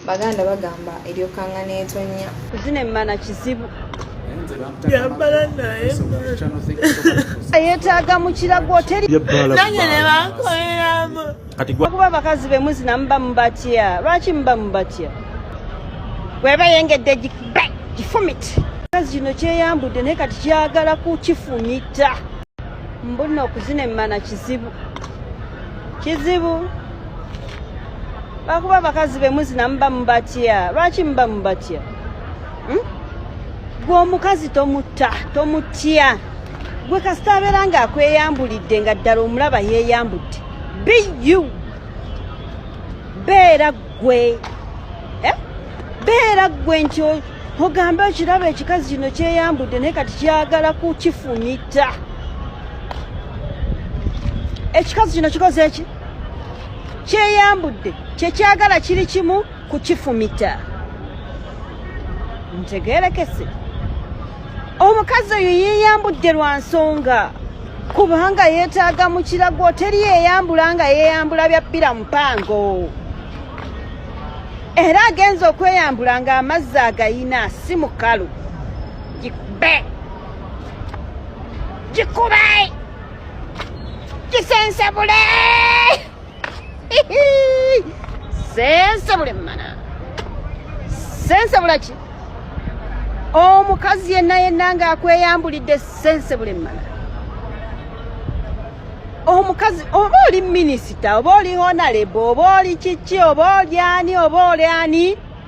baganda bagamba eryokanga netonya zino emmana kizibu yambala naye yetaaga mukira gwotelinanye nebakoleramu kuba abakazi bemuzina muba mubatya lwaki muba mubatya weba yengedde gifumiti kazi kino kyeyambudde naye kati kyagala kukifumita mbuno okuzina emmana kizibu kizibu bakuba abakazi bemuzina muba mubatya lwaki muba mubatya hmm? gwe omukazi tomutta tomutya gwe kasita abeera nga akweyambulidde nga ddala omulaba yeyambudde biu beera gwe eh? beera gwe nti ogambe okiraba ekikazi kino kyeyambudde naye kati kyagala kukifumita ekikazi kino kikoze eki kyeyambudde kyekyagala kiri kimu kukifumita ntegerekese omukazi oyo yeyambudde lwa nsonga kubanga yeetaaga mu kirago teri yeyambula nga yeyambula bya bbira mupango era agenza okweyambula nga amazzi agayina si mukalu gikube gikube kisensebule sensebule mana sensebula ki omukazi yenna yenna nga akweyambulidde sensebule mana omukazi oba oli minisita oba oli honalebo oba oli kiki oba oli ani oba oli ani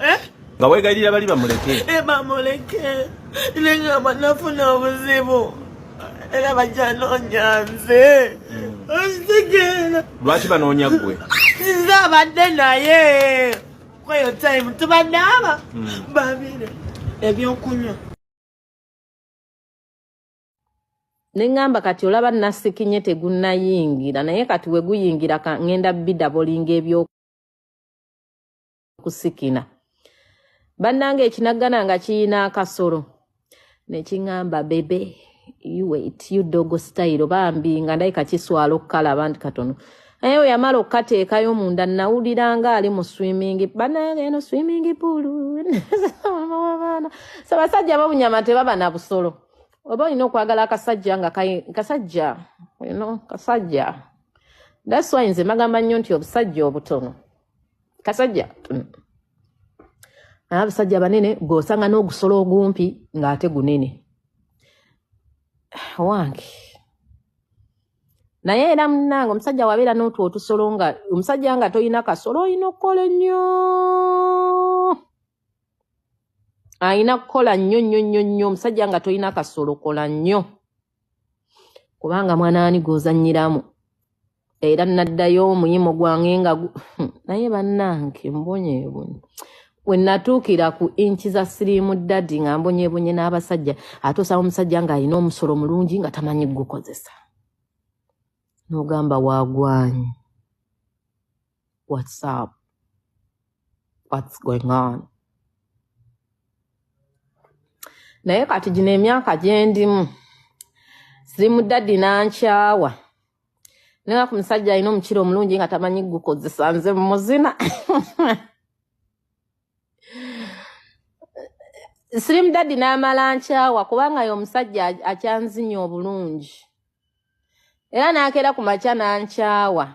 eh? nga wegayirira bali bamuleke eh, bamuleke nengamba nafuna obuzibu era bajanonya nze hmm. osigera lwaki banoonya gwe nze abadde naye kweyo time tubadde aba hmm. babire ebyokunywa ne ŋŋamba kati olaba nasikinye tegunnayingira naye kati we guyingira ŋŋenda bidabolinga ebyokusikina bannanga ekinaggana nga kiyina akasolo ne kiŋŋamba bebe uwait udogo sitayiro bambi nga ndayika kiswala okukalaba nti katono naye we yamala okukateekayo munda nawulira nga ali mu swimingi bannanga eno swimingi puulu abaana sabasajja babunyama tebaba na busolo oba olina okwagala akasajja nga kasajja you know, kasajja that's why nze magamba nnyo nti obusajja obutono kasajja mm. abasajja banene gwosanga n'ogusolo ogumpi ng'ate gunene wange naye era munange omusajja wabeera n'otwo otusolo nga omusajja nga tolina kasolo olina okukola ennyo alina kukola nnyo nnyo nnyo nnyo omusajja nga tolina kasolo kola nnyo kubanga mwanaani gwozanyiramu era naddayo omuyimo gwange nga hmm, naye bannange mbonyebonye we natuukira ku inki za siriimu dadi nga mbonyebonye n'abasajja ate osaba omusajja ng'alina omusolo mulungi nga tamanyi gukozesa n'ogamba wagwanyi What's up? What's going on? naye kati gino emyaka gyendimu siri mu daddi nankyawa naye ku musajja alina omukira omulungi nga tamanyi gukozesa nze mumuzina siri mu daddi n'amala nkyawa kubanga ye omusajja akyanzinya obulungi era n'akeera ku makya nankyawa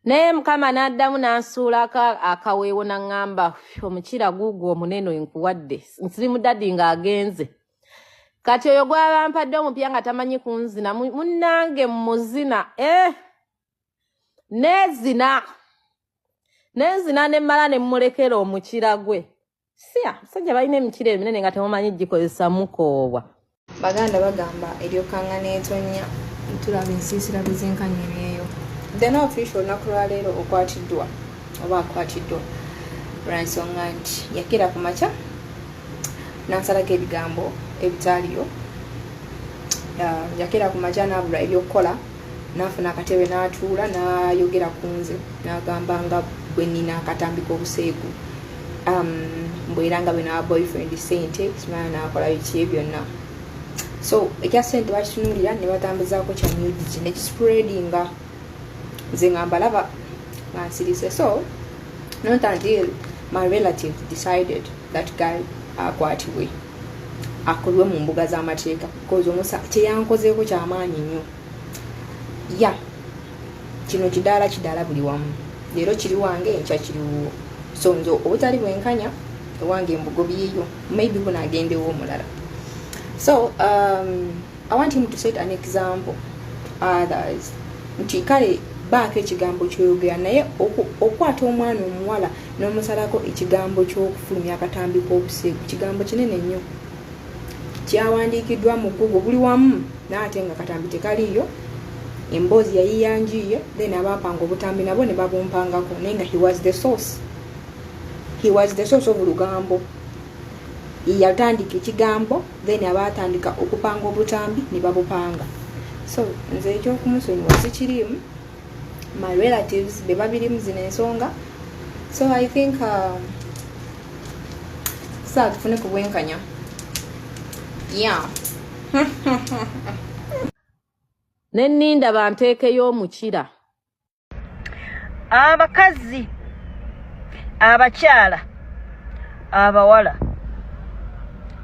naye mukama n'addamu n'ansuula akaweewo n'aŋŋamba omukira guugwo omunene enkuwadde nsirimuddadi ng'agenze kati oyo gwabampadde omupya nga tamanyi kunzina munnange muzina e eh! nezina nenzina nemmala ne mmulekera omukira gwe siya musajja balina emikira eminene nga temumanyi gikozesa mukoobwa baganda bagamba eryokanga netonya tulaba ensiisira bwezenkanya ebyeyo dena ofisha olunaku lwaleero okwatiddwa oba akwatiddwa lwansonga nti yakira ku makya nansalako ebigambo ebitaaliyo yakira ku makya nabula ebyokukola nafuna akatebe natuula nayogera ku nze nagamba nga bwenina akatambika obuseegu um, mbuira nga bino boyfriend sente simana nakola biki byonna so ekya sente bakitunulira ne batambuzako kya music ne kispreadinga nze nga mbalaba nga nsirise so not until my relative decided that guy akwatibwe akolwe mu mbuga z'amateeka bcause omusa kyeyankozeeko kyamaanyi nnyo ya yeah. kino kidaala kidaala buli wamu leero kiri wange enkya kiri wuwo so nze obutali bwenkanya ewange mbugobiyeyo maybe buno agendewo omulala so um, i want him to set an example others nti kale baako ekigambo kyoyogera naye okukwata omwana omuwala n'omusalako ekigambo ky'okufulumya akatambi k'obuseegu kigambo kinene nnyo kyawandiikiddwa mu gugu buli wamu naye ate nga katambi tekaliiyo emboozi yayiyanjiiye then abaapanga obutambi nabo ne babumpangako naye nga he was the source he was the source of lugambo yatandika ekigambo then abaatandika okupanga obutambi ne babupanga so nze ekyokumusonyiwa sikiriimu my relatives be babirimu zino ensonga so i think um, saa tufune ku bwenkanya yeah ne ninda banteekeyo omukira abakazi abakyala abawala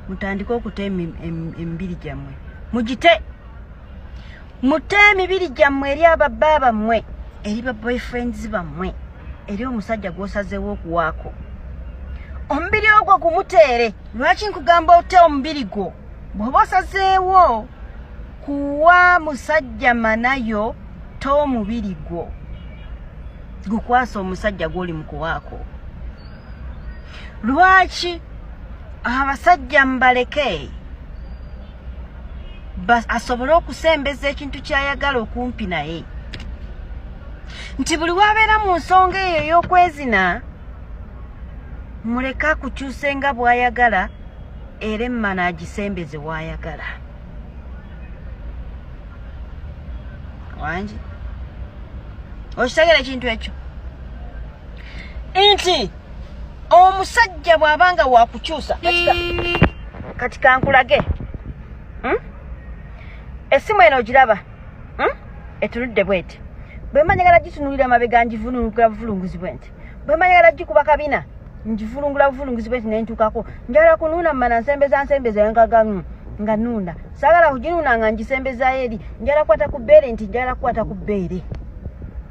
mutandike okuta emibiri gyammwe mugite mute emibiri gyammwe eri ababba bammwe eri ba boyfriends bammwe eri omusajja gwosazeewo okuwaako omubiri ogwo gumuteere lwaki nkugamba ote omubiri gwo bwoba osazeewo kuwa musajja manayo to omubiri gwo gukwasa omusajja gwoli mukuwaako lwaki abasajja mbaleke asobole okusembeza ekintu kyayagala okumpi naye nti buli wabeera mu nsonga eyo ey'okwezina muleke akukyuse nga bwayagala era emmana agisembeze wayagala wangi okitegera ekintu ekyo nti omusajja bw'aba nga wakukyusa kati kankulage hmm? essimu eno ogiraba hmm? etunudde bweti bwemanyagala gitunulira mabega njivulungula buvulunguzi bwenti bwemanyagala gikuba kabina njivulungula buvulunguzi bwenti nentuukako njagala kunuuna mumana nsembeza nsembeza engagamu nga nuuna saagala kuginuuna nga ngisembezayo eri njagala kukwata ku bbeere nti njagala kukwata ku bbeere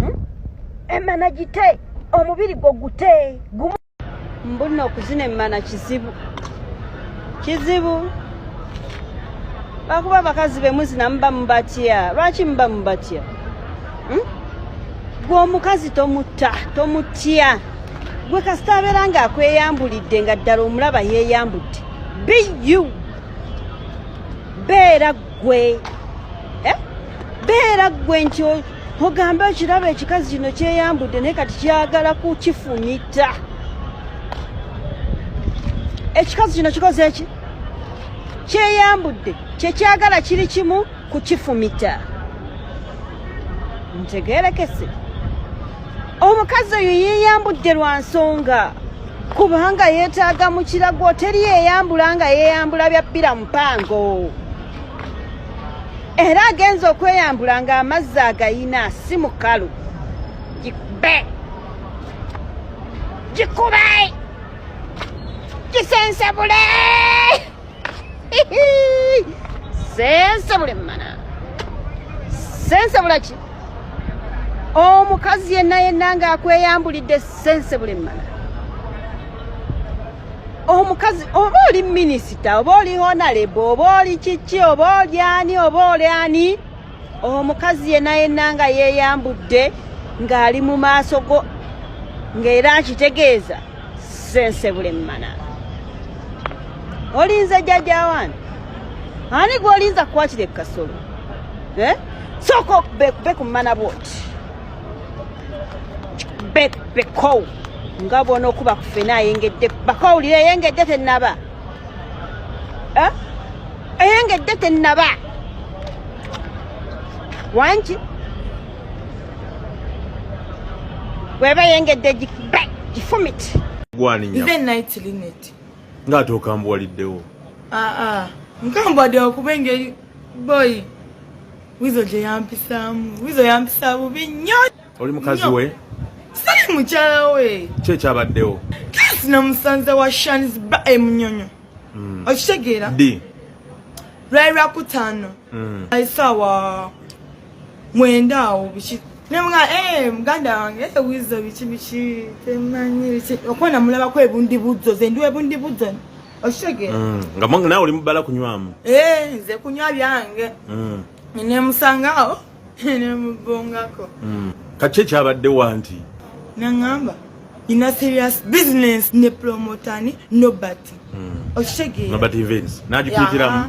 hmm? emana gite omubiri gwo gute gumu mbuno okuzina emana kizibu kizibu bakuba abakazi bemuzina muba mubatya lwaki muba mubatya hmm? gwe omukazi tomutta tomutya gwe kasita abeera nga akweyambulidde nga ddala omulaba yeeyambudde biu beera gwe eh? beera gwe nti ogamba ekiraba ekikazi kino kyeyambudde naye kati kyagala kukifumita ekikazi kino kikoze eki kyeyambudde kyekyagala kiri kimu kukifumita ntegerekese omukazi oyo yeyambudde lwa nsonga kubanga yeetaaga mu kirago teri eyambula nga yeeyambula bya bbira mupango era agenza okweyambula ng'amazzi agayina si mukalu gikube gikube gisensebule sensabule mmana sensabula ki omukazi yenna yenna ng'akweyambulidde sensabule mmana omukazi oba oli minisita oba oli honalebo oba oli kiki oba oli ani oba oli ani omukazi yenna yenna nga yeeyambudde ng'ali mu maaso go ng'era akitegeeza sense bulemmana olinze jjajja wani ani gwolinza kukwatira ekasolo eh? sooka bekumana bwoti bekow nga bwona okuba kufena ayengedde bakowulire eyengedde tenaba eh? eyengedde tenaba wangi weba yengedde gifumit even night linet nga ate okambuwaliddewo aa ah, ah. nkambuwadde okuba engeri boy wizo gye yampisaamu wizo yampisa bubi nnyo oli mukazi we sali mukyala we ki ekyabaddewo kasi namusanze wa shanis ba emunyonyo eh, hmm. okitegeera lwali lwakutaano hmm. aisaawa mwenda awo biki nemga eh muganda wange eh wizo biki biki temanyi biki okona mulaba ko ebundi buzo ze ndiwe ebundi buzo oshege mm. nga mwange nawe oli mubala kunywamu eh nze kunywa byange mm. ne musanga awo ne mubongako mm. kache kyabadde wanti nangamba ina serious business ne promoter ni nobody hmm. okitegeera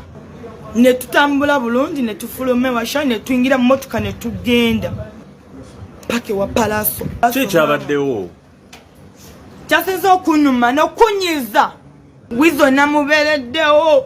ne tutambula bulungi ne tufuluma ewasha ne tuyingira mu motoka ne tugenda paka ewa palaso ki kyabaddewo kyasinza okunuma nokunyiza wizo namubeereddewo